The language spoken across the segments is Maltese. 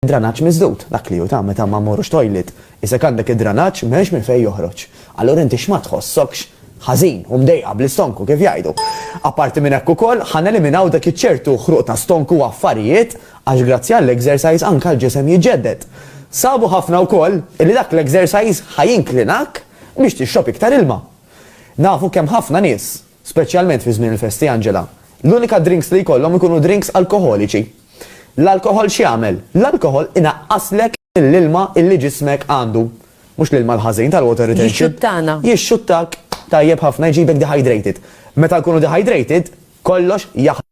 Dranaġġ miżdud, dak li hu ta' meta ma mmorrux toilet. Iżda jekk għandek id-dranaġġ m'hemmx minn fejn joħroġ. Allura inti x'ma tħossokx ħażin u mdejqa bl-istonku kif jgħidu. Apparti minn hekk ukoll, ħa neliminaw dak iċ-ċertu ħruq ta' stonku u affarijiet għax grazzi għall-exercise anke l-ġisem jiġġedded. Sabu ħafna wkoll illi dak l-exercise ħa jinklinak biex tixrob iktar ilma. Nafu kemm ħafna nies Speċjalment fi żmien il-festi, Angela, l-unika drinks li jkollhom ikunu drinks alkoħoliċi. L-alkoħol x'jagħmel? L-alkoħol inaqqaslek mill-ilma illi ġismek għandu. Mhux l-ilma l-ħażin tal-water retention. Jixxuttana. Jixxuttak tajjeb ħafna, jġibek dehydrated. Meta nkunu dehydrated, kollox jaħ.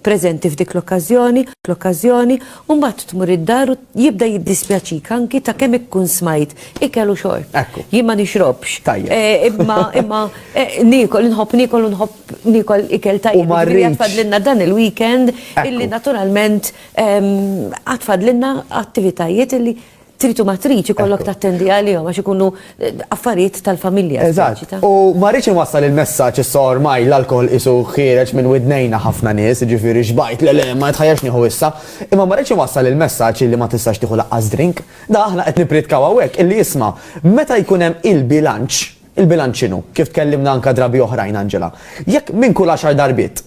preżenti f'dik l-okkażjoni, l-okkażjoni, u mbagħad tmur id-dar u jibda jiddispjaċik anki ta' kemm ikkun smajt ikel u xorb. Ekku. Jien ma nixrobx. Tajjeb. Eh, Imma imma eh, niekol, inħobb niekol u nħobb niekol ikel tajjeb. U ma Jiġifieri rridx. għad fadlilna dan il-weekend Ekku. illi naturalment ehm, għad fadlilna attivitajiet illi trid u ma tridx ikollok tattendi għalihom għax ikunu eh, affarijiet tal-familja. Eżatt. U ma rridx inwassal il-messaġġ issa ormaj l-alkohol isu ħiereġ minn widnejna ħafna nies, ġifieri xbajt le le ma jitħajjax nieħu issa, imma ma rridx inwassal il-messaġġ li ma tistax tieħu laqqas drink. Da aħna qed nipritkaw hawnhekk illi jisma' meta jkun hemm il-bilanċ, il-bilanċ x'inhu, kif tkellimna anka drabi oħrajn Angela. Jekk minn kull għaxar darbit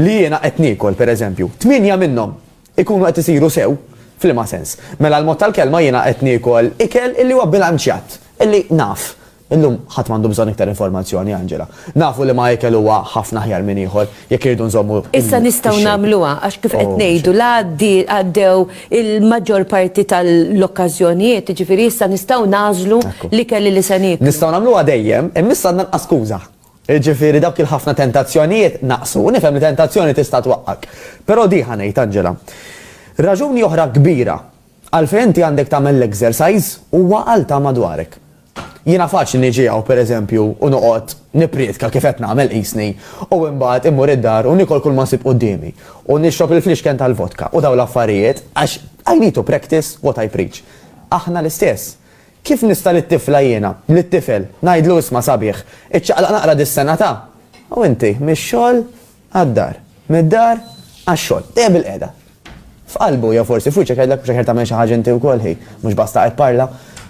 li jiena qed niekol pereżempju, tminja minnhom ikunu qed isiru sew, f'liema sens? Mela l-mod tal-kelma jiena qed niekol ikel illi huwa bilanċjat, illi naf. Illum ħadd m'għandu bżonn iktar informazzjoni, Angela. Nafu liema ikel huwa ħafna aħjar minn ieħor, jekk irridu nżommu l-. Issa nistgħu nagħmluha għax kif qed ngħidu la għaddew il-maġġor parti tal-okkażjonijiet, jiġifieri issa nistgħu nagħżlu l-ikel illi se nieklu. Nistgħu nagħmluha dejjem, imma issa għandna nqas skuża. Jiġifieri dawk il-ħafna tentazzjonijiet naqsu. U nifhem li tentazzjoni tista' twaqqgħek. Però di, ħa ngħid, Angela. Raġuni oħra kbira għalfejn inti għandek tagħmel l-exercise huwa għal ta' madwarek. Jiena faċli niġi hawn, per eżempju, u noqgħod nipprietka kif qed nagħmel qisni, u imbagħad immur id-dar u niekol kulma nsib quddiemi, u nixrob il-flixken tal-vodka u dawn l-affarijiet, għax I need to practice what I preach. Aħna l-istess. Kif nista' lit-tifla jiena, lit-tifel, ngħidlu isma' sabiħ, iċċaqlaq naqra dis-sena ta', u inti, mix-xogħol għad-dar, mid-dar għax-xogħol, dejjem bilqiegħda. F'qalbu, jew forsi f'wiċċek jgħidlek mhux aħjar tagħmel xi ħaġa inti wkoll hi, mhux basta qed parla.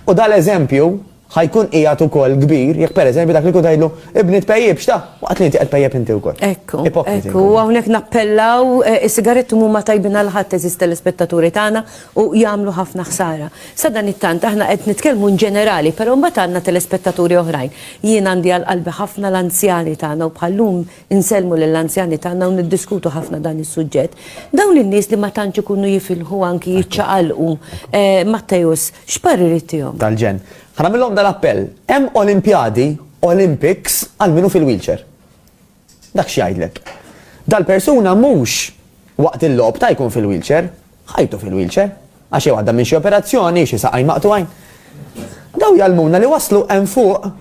U dan l-eżempju ħa jkun qiegħed ukoll kbir jekk pereżempju dak li jkun tgħidlu, ibni tpejjipx ta', waqt li inti qed tpejjep inti wkoll. Ekku, ekku, u hawnhekk nappellaw, is-sigaretti mhuma tajbin għal ħadd eżiż telespettaturi tagħna, u jagħmlu ħafna ħsara. Sadanittant aħna qed nitkellmu in ġenerali, però mbagħad għandna telespettaturi oħrajn. Jien għandi għal qalbi ħafna l-anzjani tagħna u bħal-lum insellmu lill-anzjani tagħna u niddiskutu ħafna dan is-suġġett. Dawn in-nies li ma tantx ikunu jifilħu anki jiċċaqalqu, Matteus, x'parir ittihom? Tal-ġenn. Ħa nagħmillhom dan appell, hemm Olimpjadi, Olympics, għal min hu fil-wheelchair. Dak x'jgħidlek? Dal-persuna mhux waqt il-logħob ta' jkun fil-wheelchair, ħajtu fil-wheelchair, għax jew għadda minn xi operazzjoni, xi saqajn maqtugħin. Dawn jgħallmuna li waslu hemm fuq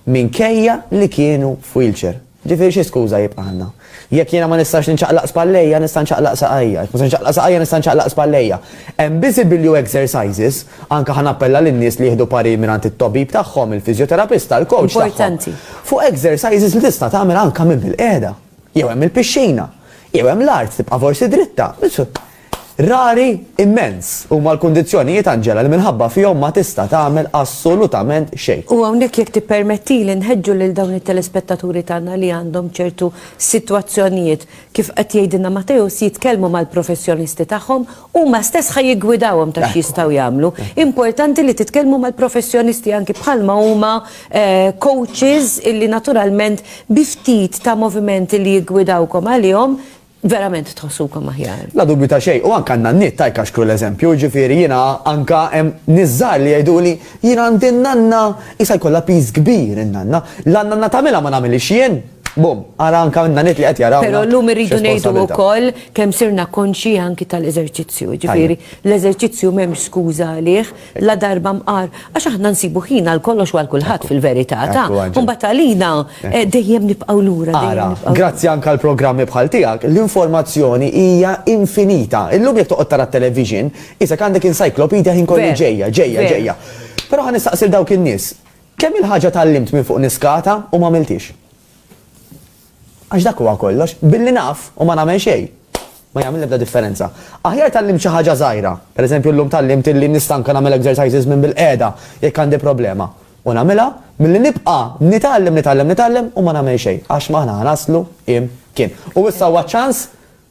minkejja li kienu f'wheelchair. Ġifieri xi skuża jibqa' għandna? Jekk jiena ma nistax ninċaqlaq spallejja, nista' nċaqlaq saqajja. Jekk ma nistax ninċaqlaq saqajja, nista' nċaqlaq spallejja. Hemm biżibilju exercises Anke ħa nappella lin-nies li jieħdu parir mingħand it-tobib tagħhom, il-fiżjoterapista, il-kowċ tagħhom, fuq exercises li tista' tagħmel anke minn bil-qiegħda. Jew hemm il-pixxina. Jew hemm l-art tibqa' forsi dritta. Rari immens huma l-kundizzjonijiet, Angela, li minħabba fihom ma tista' tagħmel assolutament xejn. U hawnhekk jekk tippermettili nħeġġu lil dawn it-telespettaturi tagħna li għandhom ċertu sitwazzjonijiet, kif qed jgħidilna Mateusz, jitkellmu mal-professjonisti tagħhom Huma stess ħa jiggwidawhom ta' x'jistgħu jagħmlu. Importanti li titkellmu mal-professjonisti anki bħalma huma coaches illi naturalment bi ftit ta' movimenti li jiggwidawkom għalihom verament tħossukom aħjar. La dubju ta' xejn. U anke għandna n-nitt tajk għax kru l-eżempju, jiġifieri jiena anke hemm nies żgħar li jgħiduli jien għandi n-nanna qisha jkollha piż kbir in-nanna. La n-nanna tagħmilha ma nagħmilhiex jien. Bum, ara anka minna nit li qed jaraw. Pero l-lum irridu nejdu u koll kem sirna konxi anki tal-eżerċizzju, ġifiri, l-eżerċizzju mem skuza għalih, la darba mqar, għax aħna nsibu ħina l-kollox għal kulħadd fil-verità, ta' kumbat għalina eh, dejjem nibqaw lura. Ara, grazzi anka l-programmi bħal tiegħek, l-informazzjoni hija infinita. Illum jekk toqgħod tara television, isek għandek encyclopedia ħin kollu ġejja, ġejja, ġejja. Però ħan nistaqsil dawk in-nies, Kemm-il ħaġa tgħallimt minn fuq niskata u m'għamilthiex. Għax dak huwa kollox. Billi naf u ma nagħmel xejn, ma jagħmel l-ebda differenza. Aħjar tgħallimt xi ħaġa żgħira, pereżempju llum tgħallimt illi nista' anke nagħmel exercises minn bilqiegħda jekk għandi problema, u nagħmilha, milli nibqa' nitgħallem, nitgħallem, nitgħallem u ma nagħmel xejn, għax m'aħna ħa naslu imkien. U issa huwa ċ-ċans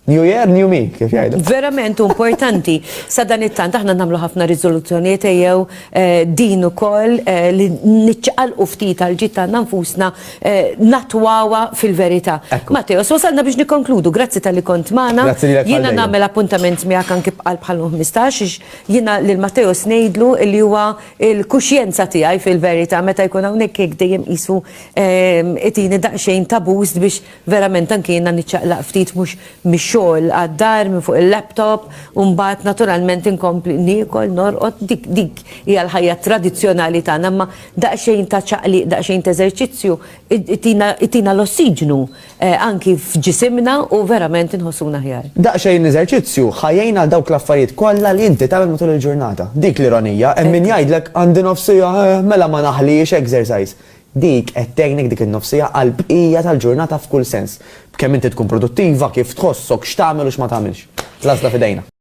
New year, new me, kif jgħidu. Verament importanti. Sa dan it-tant aħna nagħmlu ħafna riżoluzzjonijiet jew eh, din ukoll eh, li niċċaqalqu ftit għal ġid tagħna nfusna eh, natwawa fil-verità. Matteo, so salna biex nikkonkludu, grazzi tal-li kont magħna. Jiena nagħmel appuntament miegħek anki bqal bħal 15 jiena lil Matteo snejdlu li huwa il-kuxjenza tiegħi fil-verità meta jkun hawnhekk dejjem qisu itini daqsxejn tabus biex Verament anki jiena niċċaqlaq ftit mhux mix-xogħol għad-dar minn fuq il-laptop u mbagħad naturalment inkompli niekol, norqod, dik dik hija l-ħajja tradizzjonali tagħna imma daqsxejn ta' ċaqliq, daqsxejn t'eżerċizzju itina itina l-ossiġnu anki f'ġisimna u verament inħossuna aħjar. Daqsxejn eżerċizzju ħa jgħin għal dawk l-affarijiet kollha li inti tagħmel matul il-ġurnata. Dik l-ironija, hemm min jgħidlek għandi nofs siegħa, eh, mela ma naħliex exercise. Dik qed tgħinek dik in-nofsija għall-bqija tal-ġurnata f'kull sens. B'kemm inti tkun produttiva, kif tħossok, x'tagħmel u x'ma tagħmilx. L-għażla f'idejna.